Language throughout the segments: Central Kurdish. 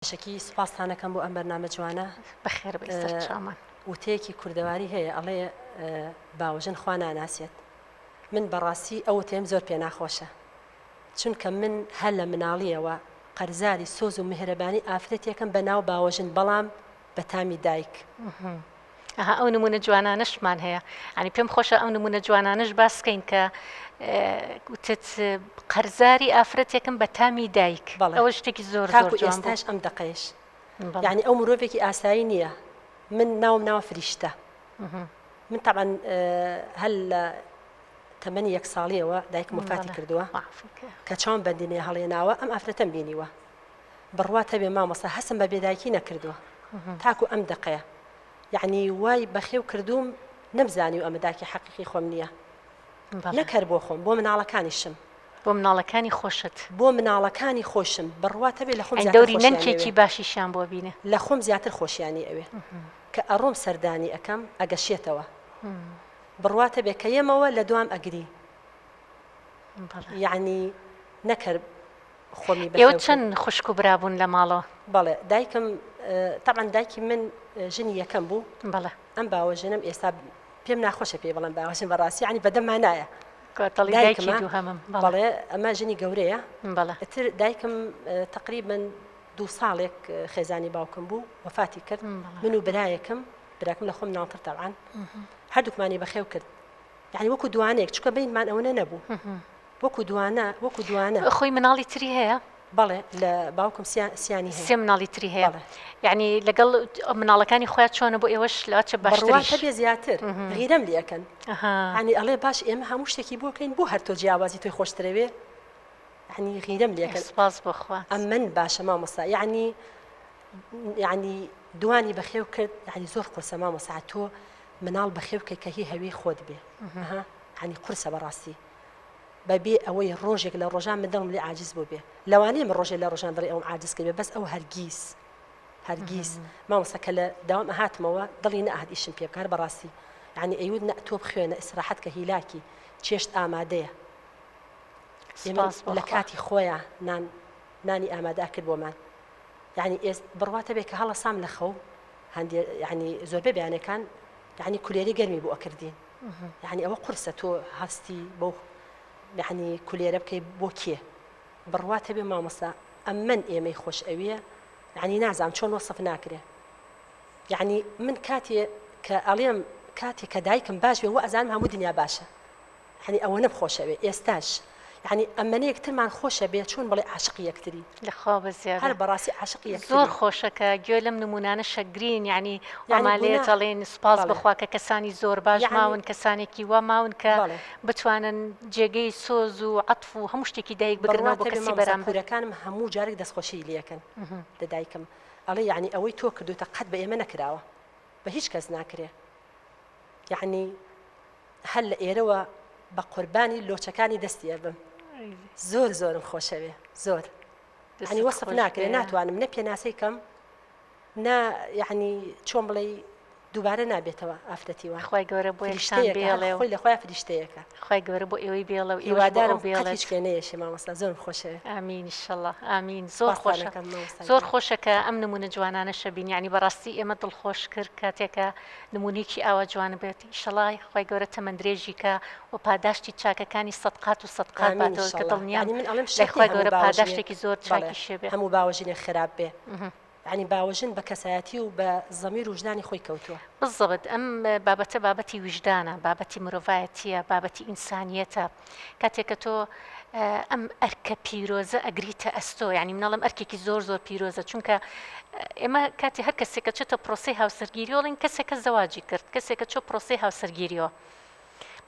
بەشەکی سوپاستان ئەکەم بۆ ئەم بەرنامە جوانە. بەخێر بێی سەرچاومان. وتەیەکی کوردەواری هەیە ئەڵێ باوەژن خوا ناناسێت. من بەڕاستی ئەو وتەیەم زۆر پێ ناخۆشە. چونکە من هەر لە مناڵییەوە قەرزاری سۆز و میهرەبانی ئافرەتێکم بە ناو باوەژن بەڵام بە تامی دایک. ئەها ئەو نمونە جوانانەشمان هەیە ئەنی پێم خۆشە ئەو نمونە جوانانەش باسکەین کە وتت قەرزاری ئافرەتێکم بە تامی دایک ئەوە شتێکی زۆر زۆر جوانتاش ئەم دقەیش یعنی ئەو مرۆڤێکی ئاسایی نییە من ناوم ناوە فریشتە من طبعا هەل لە تەمەنی یەک ساڵیەوە دایکم وفاتی کردووە کە چاوم بەندینێ هەڵێناوە ئەم ئافرەتەم بینیوە بڕوات هەبێ مامۆستا هەستم بە بێدایکی نەکردووە تاکو ئەم دەقەیە یعنی وای بەخێو کردووم نەمزانیو ئەمە داکی حەقیقی خۆم نییە نەک هەر بۆ خۆم بۆ مناڵەکانیشم بۆ مناڵەکانی خۆشت بۆ مناڵەکانی خۆشم بڕوات هەبێ لە خۆم دەوری نەنکێکی باشیشیان بۆ بینە لە خۆم زیاتر خۆشیانی ئەوێ کە ئەڕۆم سەردانی ئەەکەم ئەگەشێتەوە بڕوات هەبێ کە یەمەوە لە دوام ئەگری یعنی نەکرد خۆمی بەخێو کرد. ئێوە چەند خوشک و برا بوون لە ماڵەوە؟ بەڵێ دایکم، تەبعەن دایکی من ژنی یەکەم بوو. بەڵێ. ئەم باوەژنەم ئێستا پێم ناخۆشە پێی بڵێم باوەژن بە ڕاستی یانی بەدەم مانایە. دەڵێی دایکی دووهەمم. بەڵێ ئەمە ژنی گەورەیە. بەڵێ. ئیتر دایکم تەقریبەن دوو ساڵێک خێزانی باوکم بوو وەفاتی کرد. بەڵێ. من و برایەکم، براکەم لە خۆم مناڵتر تەبعەن، هەردووکمانی بەخێو کرد. یانی وەکوو دووانەیەک چونکە بەینمان ئەوەنە نەبوو. وەکو دوانە وەکو دوانە. خۆی مناڵی تری هەیە؟ بەڵێ لە باوکم سیانی سێ مناڵی تری هەیە یعنی لەگەڵ مناڵەکانی خۆیان چۆنە بۆ ئێوەش لاچە بەڕواتە بێ زیاتر غیرەم لەکەن هەنی ئەڵێ باش ئێمە هەموو شتێکی بۆکەین بۆ هەر تۆ جیاوازی توی خۆشترەوێ هەنی غیرەم لەکەس باز بخوا ئەم من باشە مامەسا یعنی یعنی دوانی بەخێو کرد یعنی زۆر قرسە مامەسا تۆ مناڵ بەخێو کە کە هی هەوی خۆت بێ هەنی قرسە بەڕاستی بە بێ ئەوەی ڕۆژێک لە ڕۆژان من دڵم لێ عاجز بووبێ لەوانەیە من ڕۆژێ لە ڕۆژان دڵی ئەوم عاجز کردبێ بەس ئەو هەرگیز هەرگیز مامۆستا کە لە داوام ئەهاتمەوە دڵی نەهات ئیشم پێ بکار بەڕاستی یعنی ئەیود نە تۆ بخوێنە ئیسراحەت کە هیلاکی چێشت ئامادەیە لە کاتی خۆیان نان نانی ئامادە کرد بۆمان یعنی ئێست بڕواتە بێ کە هەڵەسام لە خەو هەندێ یعنی زۆربەی بەیانەکان یعنی کولێرەی گەرمی بۆ ئەکردین یعنی ئەوە قرسە تۆ هەستی بۆ یعنی کولێرە بکەی بۆ کێ بڕوات هەبێ مامۆستا ئەمن ئێمەی خۆش ئەویە یعنی نازانم چۆن وەسف ناکرێ یعنی من کاتێ کە ئەڵێم کاتێک کە دایکم باش بێ وە ئەزانم هەموو دنیا باشە یانی ئەوەنە بخۆشەوێ ئێستاش یانی ئەمەە یەکترمان خۆشە بێ چۆن بڵێ عاشق یەکتری لەخوا بەزیاد هەر بەڕاستی عاشق زۆر خۆشەکە گوێ لەم نمونانە شەگرین یعنی ئەمالێ جەڵێن سوپاس بخوا کە کەسانی زۆر باش ماون کەسانێکی وا ماون کە بتوانن جێگەی سۆز و عطف و هەموو شتێکی دایک بگرنەوە بۆ کەسی بەرامبەرەکانم هەموو جارێک دەستخۆشی لەکەن لە دایکم ئەڵێ یعنی ئەوەی تۆ کردوتە قەت بە ئێمە نەکراوە بە هیچ کەس ناکرێ یەعنی هەر لە ئێرەوە بە قوربانی لۆچەکانی دەستی ئەبم زۆر زۆرم خۆشەوێ زۆر ینی وەسف ناکرێ ناتوانم نە پێناسەی کەم نا یعنی چۆن بڵێ دووبارە نابێتەوە ئافرەتی وە خخوای گەورە بۆ بێڵێ خۆی لەخوای فریشتەیەەکە خخوای گەورە بۆ ئێوەی بێڵە و هیوادارم بێڵێش کێنەیەشی مامۆستا زۆر خۆشێ ئامینشله ئامین زۆر خۆشەکەم زۆر خۆشەکە ئەم نمونە جوانانە شەبین ینی بەڕاستی ئێمە دڵخۆش کرد کاتێکە نمونەیەکی ئاوا جوان بێت ئیشەڵا خوای گەورە تەمەن درێژی کا و پاداشتی چاکەکانی سەد قات و سەد قات باتەوە کە دڵنیام یعنی من ئەڵێم لای شەرتێ خوای هەموو گەورە باوەژنێک پاداشتێکی زۆر بەڵێ چاکی شێ بێ هەموو باوەژنێک خراپ بێ یعنی باوەژن بە کەسایەتی و بە زەمیر و وژدانی خۆی کەوتووە بالضبط ئەم بابەتە بابەتی ویژدانە بابەتی مرۆڤایەتیە بابەتی ئینسانیەتە کاتێک کە تۆ ئەم ئەرکە پیرۆزە ئەگریتە ئەستۆ ینی منەڵم ئەرکێکی زۆر زۆر پیرۆزە چونکە ئێمە کاتی هەر کەسێکە چێتە پرۆسی هاوسەرگیریۆڵین کەسێکە زەواجی کرد کەسێکە چۆ پرۆسی هاوسەرگیریۆ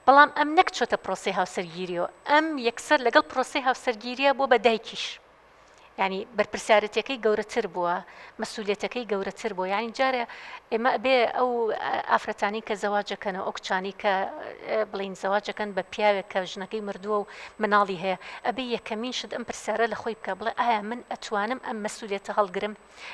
بەڵام ئەم نەک چۆتە پرۆسی هاوسەرگیریۆ ئەم یەکسەر لەگەڵ پرۆسی هاوسەرگیریە بۆ بە دایکیش ینی بەرپرسیارەتەکەی گەورەتر بووە مەسوولەتەکەی گەورەتر بۆ یانی جارێ ئێمە بێ ئەو ئافرەتانی کە زەواجەکەن و ئەو کچانی کە بڵین زەواجەکەن بە پیاوێک کە ژنەکەی مردووە و مناڵی هەیە ئەبێ یەکەمین شت ئەم پرسیارە لە خۆی بکە بڵێ ئایا من ئەتوانم ئەم مەسوولێتە هەڵگرم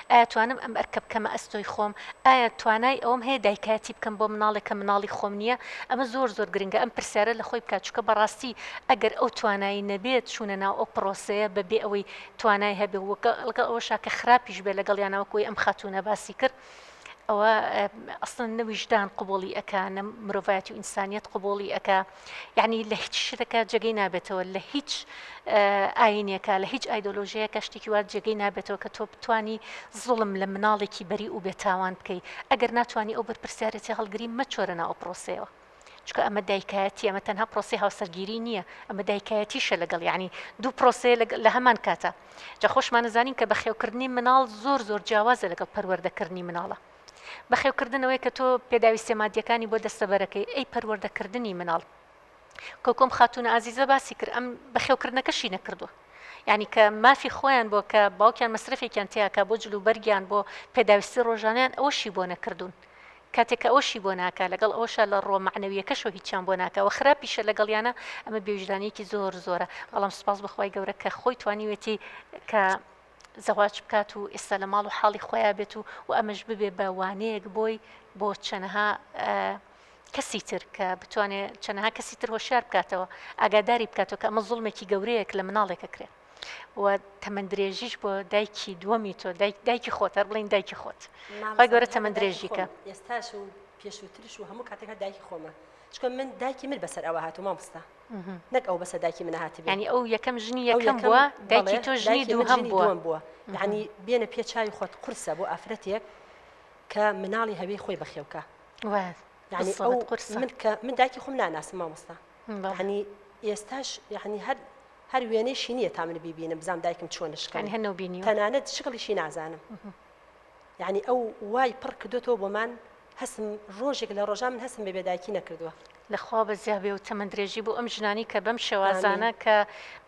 ئایا توانم ئەم ئەرکە بکەمە ئەستۆی خۆم؟ ئایا توانای ئەوەم هەیە دایکایەتی بکەم بۆ مناڵێک کە مناڵی خۆم نییە؟ ئەمە زۆر زۆر گرنگە ئەم پرسیارە لە خۆی بکات چونکە بەڕاستی ئەگەر ئەو توانایی نەبێت چوونە ناو ئەو پڕۆسەیە بە بێ ئەوەی توانای هەبێ و لەگەڵ ئەوەشا کە خراپیش بێ لەگەڵیانا وەکو ئەوەی ئەم خاتوونە باسی کرد ئەوە ئەسڵەن نە ویژدان قبوڵی ئەکا نە مرۆڤایەتی و ئینسانیەت قبوڵی ئەکا. یعنی لە هیچ شتەکە جێگەی نابێتەوە لە هیچ ئاینەکە لە هیچ ئایدۆلۆژیەکە شتێکی وار جێگەی نابێتەوە کە تۆ بتانی زوڵم لە مناڵێکی بەری و بێتاوان بکەیت ئەگەر ناتوانانی ئەو بەرپرسیارەتی هەڵگری مەچۆرە ناو پرۆسەوە. چکە ئەمە دایکایەتی ئەمە تەنها پرۆسی هاوسەرگیری نییە ئەمە دایکایەتیشە لەگەڵ ینی دوو پرۆسێ لە هەمان کاتە جا خۆشمانەزانین کە بەخێوکردنی مناڵ زۆر زۆر جیاوازە لەگەڵ پەروەردەکردنی مناڵە بەخێوکردنەوەی کە تۆ پێداویستیە مادیەکانی بۆ دەستەبەرەکەی ئەی پەروەردە کردنی مناڵ کۆکۆم خاتونە ئازیزە باسی کرد ئەم بەخێوکردنەکەشی نەکردووە ینی کە مافی خۆیان بۆ کە باوکیان مەصرفێکیان تیاکە بۆ جلو بەرگیان بۆ پێداویستی ڕۆژانیان ئەوەشی بۆ نەکردوون کاتێککە ئەوشی بۆ ناکە لەگەڵ ئەوشە لە ڕۆ معنەویەکەشەوە هیچیان بۆ ناکەەوە خراپیشە لەگەڵیانە ئەمە بێژدانێکی زۆر زۆرە بەڵام سپاس بەخوای گەورە کە خۆی توانیوێتی کە زەواج بکات و ئێستا لە ماڵ و حاڵی خۆیان بێت و و ئەمەش ببێ بە وانەیەک بۆی بۆ چەنەها کەسی تر کە بتوانێت چەنەها کەسی تر هۆشیار بکاتەوە ئاگاداری بکاتەوە کە ئەمە زڵمێکی گەورەیەک لە مناڵێکە کرێت و تەمەند درێژیش بۆ دایکی دووەمی تۆ دایک دایکی خۆت هەر بڵین دایکی خۆت خی گەورە تەمەند درێژیکە ئێستاش و پێشووترش و هەموو کاتێکە دایکی خۆمە چکە من دایکی من بەسەر ئەوە هاتو مامستا نەک ئەو بەسە داکی منە هاتبێ یانی ئەو یەکەم ژنی یەکەم بووە دایکی تۆ ژنی دووهەم بووە بووە یعنی بێنە پێ چاوی خۆت قرسە بۆ ئافرەتێک کە مناڵی هەوی خۆی بەخێوکە یعنی ئەو قرس من کە من داکی خۆم ناناسم مامۆستا هەنی ئێستاش یعنی هەر هەر وێنەیشی نییە تا من بیبینم بزانام دایکم چۆن شکانی هەنە بینی تەنانەت شکڵیشی نازانم یعنی ئەو وای پڕ کردوێتەوە بۆمان هەستم ڕۆژێک لە ڕۆژان من هەستم بە بێدایکی نەکردووە. لە خوا بەزیا بێ و تەمەن درێژی بۆ ئەم ژنانی کە بەم شێوازانە کە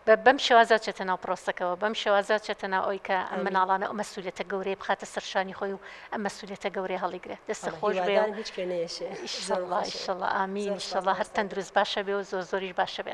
بە بەم شێوازە چێتە ناو پرۆسەکەوە بەم شێوازە چێتە ناو ئەوی کە ئەم مناڵانە ئەو مەسولیتە گەورەی بخاتە سەرشانی خۆی و ئەم مەسولیتە گەورەی هەڵیگرێت دەستە خۆش بێ و هیچ کوێ نێشێ ئیشەڵا ئیشەڵا ئامین ئیشەڵا هەر تەندروست باشە بێ و زۆر زۆریش باشە بێ.